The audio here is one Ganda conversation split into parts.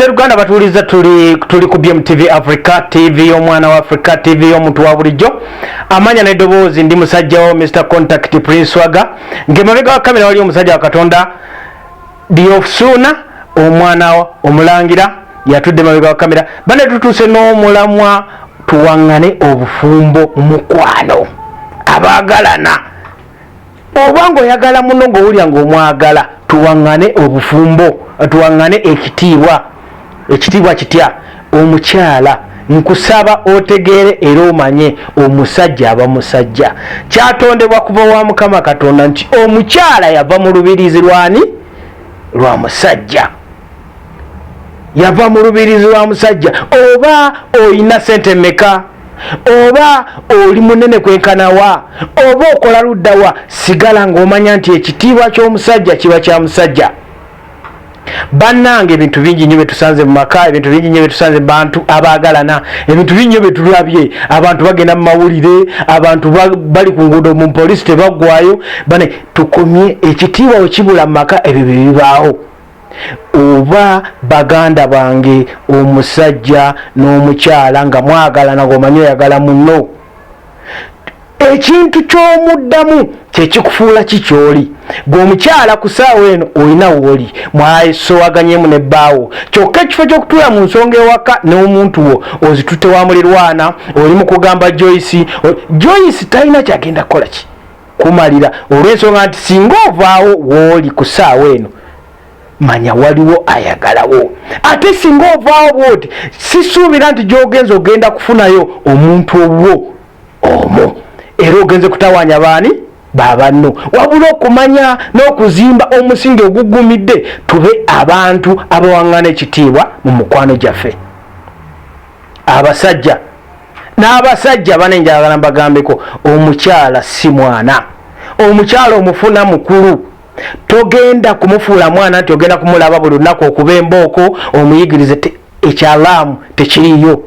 Seruganda batuuliza tuli tuli ku BMTV Africa TV y'omwana wa Africa TV y'omuntu wa bulijjo amanya n'eddoboozi ndi musajja wo Mr Contact Prince Swaga ng'emabega wa kamera wali omusajja wa Katonda Diofsuna omwana omulangira yatudde emabega wa kamera bane tutuuse n'omulamwa tuwang'ane obufumbo mukwano abaagalana Oba ng'oyagala munno ng'owulira ng'omwagala. Tuwaŋŋane obufumbo, tuwaŋŋane ekitiibwa. Ekitiibwa kitya? Omukyala, nkusaba otegeere era omanye, omusajja aba musajja. Kyatondebwa kuva wa Mukama Katonda nti omukyala yava mu lubiriizi lw'ani? Lwa musajja. Yava mu lubiriizi lwa musajja. Oba olina ssente mmeka? oba oli munene kwenkanawa oba okola luddawa sigala ng'omanya nti ekitiibwa ky'omusajja kiba kya musajja bannanga ebintu bingi nyo byetusanze mumaka ebintu bingi nyo byetusanze mubantu abaagalana ebintu bingi nyo byetulabye abantu bagenda mumawulire abantu bali ku nguudo mu poliisi tebaggwayo bane tukomye ekitiibwa wekibula mumaka ebyo byebibaawo oba baganda bange omusajja n'omukyala nga mwagalana gomanyi oyagala muno ekintu ky'omuddamu kyekikufuula ki kyoli gwe omukyala ku saawa eno olina wooli mwasowaganyemu ne bbaawo kyokka ekifo ky'okutuula mu nsonga ewaka n'omuntu wo ozitute wa mulirwana oli mu kugamba joyce joyce talina kyagenda kukola ki kumalira olw'ensonga nti singa ovaawo wooli ku ssaawa eno manya waliwo ayagalawo ate singa ovaawo bwoti sisuubira nti gy'ogenza ogenda kufunayo omuntu obwo omu era ogenze kutawaanya baani babanno wabula okumanya n'okuzimba omusingi ogugumidde tube abantu abawaŋŋana ekitiibwa mu mukwano gyaffe abasajja n'abasajja bane njagala mbagambeko omukyala si mwana omukyala omufuna mukulu togenda kumufuula mwana nti ogenda kumulaba buli lunaku okuba embooko omuyigirize ekyalaamu tekiriyo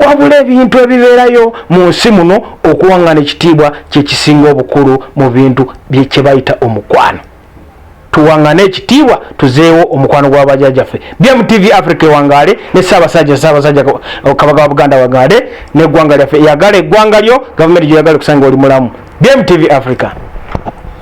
wabula ebintu ebibeerayo mu nsi muno okuwangana ekitiibwa kyekisinga obukulu mu bintu kyebayita omukwano tuwangane ekitiibwa tuzeewo omukwano gwa bajajaffe bmtv africa ewangaale ne saabasajja saabasajja kabaka wa buganda wagaale neggwanga lyaffe eyagala eggwanga lyo gavumenti gyoyagala okusanga oli mulamu bmtv africa